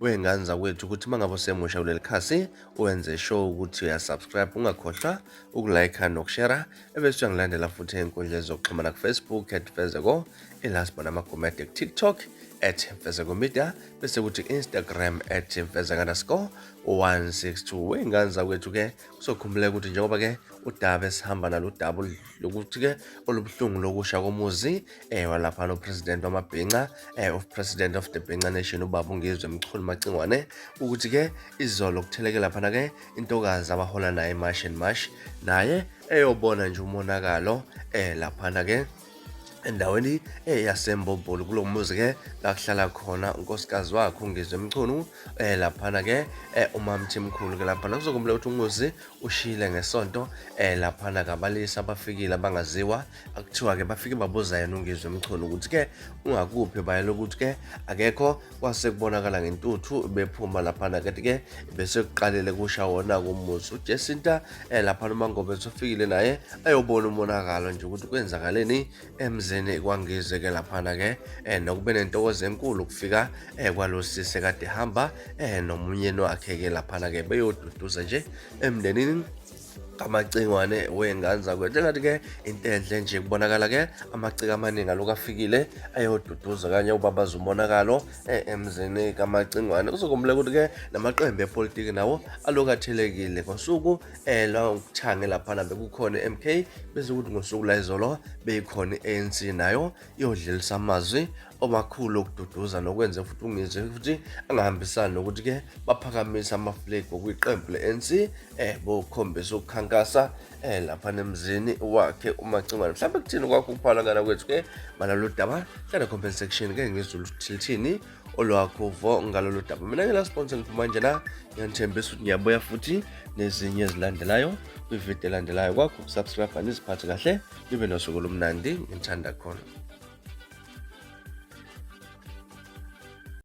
wey'ngane zakwethu ukuthi uma ngabe usemusha kuleli khasi wenze sure ukuthi uyasubscribe ungakhohlwa ukulayikha nokushera ebese uyangilandela futhi ey'nkundleni zokuxhumana kufacebook at fezeko ilast bona amagumede kutiktok at fezeko media bese kuthi instagram at fezeka underscore 162 wey'ngane zakwethu-ke sokhumbuleka ukuthi njengoba ke udaba esihamba nalo udaba lokuthi ke olubuhlungu lokusha komuzi eh walapha no president wamabhinca eh of president of the Bhinca Nation ubaba uNgizwe Mchunu Macingwane ukuthi ke izolo kutheleke lapha na ke intokazi abahola naye Marsh and Marsh naye eyobona nje umonakalo eh lapha na ke endaweni eyasembombolo kulo muzi ke lakuhlala khona unkosikazi wakhe ungizwe mchunu um eh, laphana ke um eh, umamthimkhulu ke laphana kuzokumbula ukuthi umuzi ushile ngesonto um eh, laphana kabalisa abafikile abangaziwa akuthiwa ke bafike babuza yena ungizwe mchunu ukuthi ke ungakuphi bayela ukuthi ke akekho kwase kubonakala ngentuthu bephuma laphana kanti-ke bese kuqalele kusha wona kumuzi ujesinta um eh, laphana umangobe esofikile naye ayobona umonakalo nje ukuthi kwenzakaleni emzini kwangize-ke laphana-ke um nokube nentokozo enkulu ukufika um kwalo sise kade hamba um nomunyeni wakhe-ke laphana-ke beyoduduza nje emndenini amacingwane wey'ngane zakwethu engathi-ke into enhle nje kubonakala-ke amaciko amaningi aloku afikile ayoduduza kanye ubabaza umonakalo eh, emzini kamacingwane kuzokumbula ukuthi-ke namaqembu epolitiki nawo aloku athelekile ngosuku um eh, lwakuthange laphana bekukhona i-m k bese ukuthi ngosuku layizolo beyikhona i-a n c nayo iyodlelisa amazwi omakhulu okududuza nokwenze futhi ungizwe futhi angahambisani nokuthi ke baphakamise amaflegi okwiqembu le-ANC eh bokhombisa ukukhankasa eh lapha nemzini wakhe umacingwane mhlawumbe kuthini kwakho ukuphala ngana kwethu ke malalo daba hlala comment section ke ngizulu thilithini olwakho vo ngalolu daba mina ke la sponsor ngiphuma nje la ngiyanithembisa ukuthi ngiyabuya futhi nezinye ezilandelayo kwividiyo elandelayo kwakho subscribe aniziphathe kahle libe nosuku olumnandi ngithanda khona